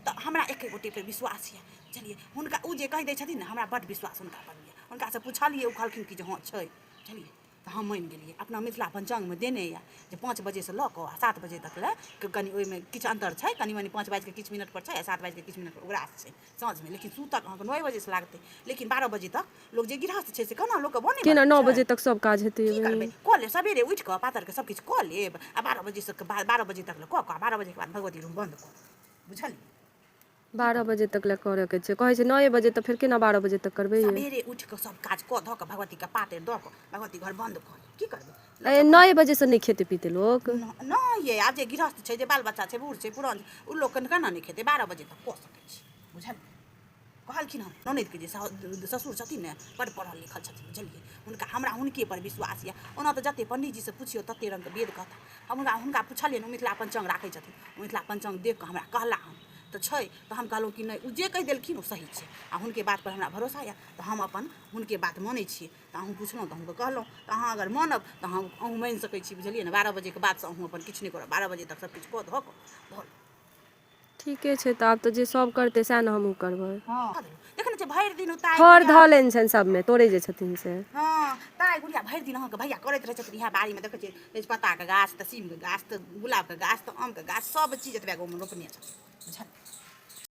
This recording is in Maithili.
तऽ हमरा एके गोटेपर विश्वास यऽ बुझलियै हुनका ओ जे कहि दै छथिन ने हमरा बड्ड विश्वास हुनका पर यऽ हुनकासँ पुछलियै ओ कहलखिन कि जे हँ छै बुझलियै तऽ हम मानि गेलियै अपना मिथिला पञ्चाङ्गमे देने यऽ जे पाँच बजेसँ लऽ कऽ आ सात बजे तक लए कनि ओहिमे किछु अन्तर छै कनि मनि पाँच बाजिके किछु मिनट पर छै आ सात बाजिके किछु मिनट पर ओकरा छै साँझमे लेकिन सूतक अहाँके नओ बजेसँ लागतै लेकिन बारह बजे तक लोक जे गृहस्थ छै से केना लोकके बने केना नओ बजे तक सब काज हेतै की करबै कऽ लेब सबेरे उठि कऽ पातरके सब किछु कऽ लेब आ बारह बजेसँ बारह बजे तक लए कऽ कऽ बारह बजेके बाद भगवती रूम बन्द कऽ देबै बुझलियै बारह बजे तक लए करयके छै कहै छै नए बजे तऽ फेर केना बारह बजे तक करबै ये? सबेरे उठि कऽ सब काज कऽ धऽ कऽ भगवतीके पातरि दऽ कऽ भगवती घर बन्द कऽ ली। की करबै ए, नए बजे से नहि खेते पीते लोक न- नहि ये आब जे गृहस्थ छै जे बाल बच्चा छै बूढ़ छै पुरान छै ओ लोक केना नहि खेतै बारह बजे तक कऽ सकै छी बुझलियै कहलखिन हँ ननदिके जे ससुर छथिन ने बड्ड पढ़ल लिखल छथिन बुझलियै हुनका हमरा हुनकेपर विश्वास यए ओना तऽ जतेक पण्डीजीसँ पुछियौ ततेक रङ्गके वेद कहता हम हुनका हुनका पुछलियनि ओ मिथिला पञ्चाङ्ग राखै छथिन ओ मिथिला पञ्चाङ्ग देख कऽ हमरा कहला हन तऽ छै तऽ हम कहलहुँ कि नहि ओ जे कहि देलखिन ओ सही छै आ हुनके बातपर हमरा भरोसा यए तऽ हम अपन हुनके बात मानै छियै तऽ अहूँ पुछलहुँ तऽ अहूँके कहलहुँ तऽ अहाँ अगर मानब तऽ अहाँ अहूँ मानि सकै छी बुझलियै ने बारह बजेके बादसँ अहूँ अपन किछु नहि करब बारह बजे तक सभकिछु कऽ धऽ कऽ ठीके छै तऽ आब तऽ जे सब करतै सएह ने हमहूँ करबै हँ देख ने छै भरि दिन उतार फर धऽ लेन छनि सबमे तोड़े जे छथिन से हँ ताइ गुड़िया भरि दिन अहाँके भैया करैत रहै छथिन इएह बाड़ीमे देखै छियै तेजपत्ताके गाछ तऽ सीमके गाछ तऽ गुलाबके गाछ तऽ आमके गाछ सब चीज एतबे गाँवमे रोपने छथिन बुझल